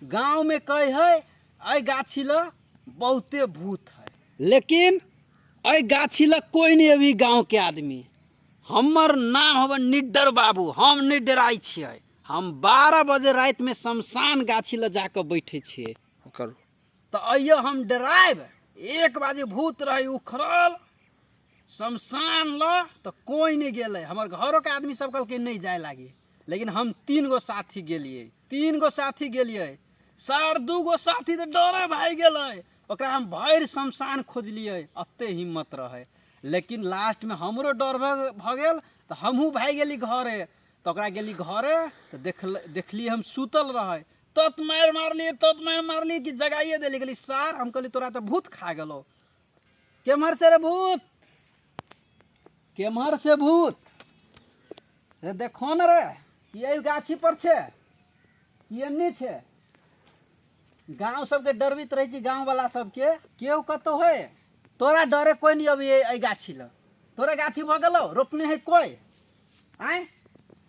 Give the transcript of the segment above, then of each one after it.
गांव में कहे है ऐ गाछी ल बहुते भूत है लेकिन ऐ गाछी ल कोई नहीं अभी गांव के आदमी हमर नाम हव निडर बाबू हम नहीं डराई छियै हम बारह बजे रात में शमशान गाछी ल जाकर बैठे छियै करू तऽ अइयो हम डरायब एक बार जे भूत रहै उखड़ल शमशान लऽ तऽ कोइ नहि गेलै हमर घरोके आदमी सब कहलकै नहि जाय लागी लेकिन हम तीन गो साथी गेलियै तीन गो साथी गेलियै सर दू गो साथी तऽ डरे भागि गेलै ओकरा हम भरि शमशान खोजलियै एते हिम्मत रहै लेकिन लास्टमे हमरो डर भऽ भऽ गेल तऽ हमहूँ भागि गेली घरे तऽ ओकरा गेली घरे तऽ देखल देखली हम सुतल रहै तत मार मारली तत मार मारली कि जगाइए देली कहली सार हम कहली तोरा तो भूत खा गेलो केम्हर से रे भूत केम्हर से भूत रे देखो न रे ये गाछी पर छे ये नहीं छे गांव सबके डरबित रहे छी गांव वाला सबके केओ कतो है तोरा डरे कोई नहीं अभी ए गाछी ल तोरा गाछी भऽ गेलो रोपने है कोई आय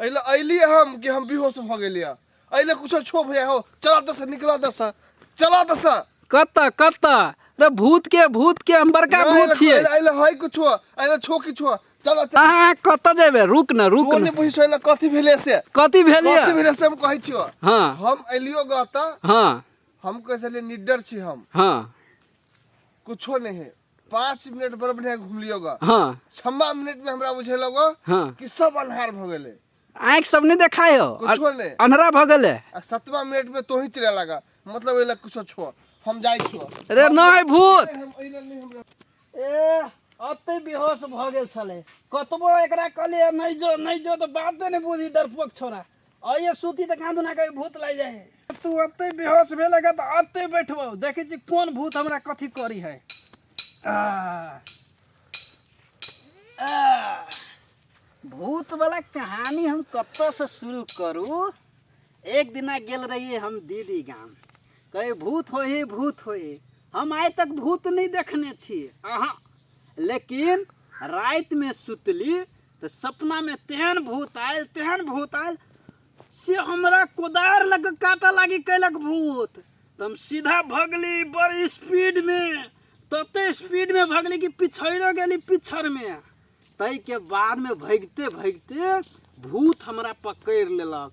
अइले अइली हम कि हम बेहोश भ गेली है अइले कुछो छो भैया हो चला दस निकला दस चला दस कत कत रे भूत के भूत के हम बड़का भूत छिए अइले अइले हई कुछो अइले छो किछो चला चला अहाँ कत जेबे रुक न रुक कोने न बुझिस अइले कथी भेले से कथी भेल कथी ये भेले से हम कहै छियो हाँ हम अइलियो गत हाँ हम कैसे निडर छी हम हाँ कुछो नहीं है पाँच मिनट बड़ बढ़िया घूम लियो गा हाँ छम्बा मिनट में हमरा बुझेलो गा हाँ कि सब अन्हार भ गेले आँख सब नहीं देखाय हो कुछो नहीं अन्हरा भ गेले आ सतवा मिनट में तो ही चले लगा मतलब एला कुछो छो हम जाई छो रे नहीं भूत हम एला नहीं हमरा ए अब तो बेहोश भ गेल छले कतबो एकरा कहलिए नहीं जो नहीं जो तो बाते नहीं बुझी डरपोक छोरा आइए सूती तऽ कान दुना कभी भूत लागि जाइ है तू अते बेहोश भेल लगा तऽ अते बैठबो देखै छी कोन भूत हमरा कथी करी है भूत वाला कहानी हम कत से शुरू करू एक दिना गेल रहिए हम दीदी गाम कहे भूत हो ही भूत हो ही हम आइ तक भूत नहीं देखने छी अहाँ लेकिन रात में सुतली तऽ सपनामे तेहन भूत आयल तेहन भूत आयल से हमरा कोदार लग काटा लागी कैलक भूत तऽ हम सीधा भगली बड़ स्पीडमे तते स्पीडमे भगली कि पिछड़ो गेली पिछड़मे ताहिके बादमे भगिते भगिते भूत हमरा पकड़ि लेलक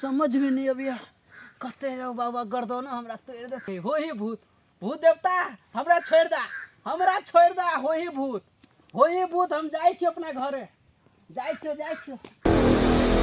समझ में नहीं अबिया कहते जाओ बाबा गर्दना हमरा तोड़ देते हो ही भूत भूत देवता हमरा छोड़ दा हमरा छोड़ दा हो ही भूत हो ही भूत हम जाए छी अपना घरे जाए छियो जाए छियो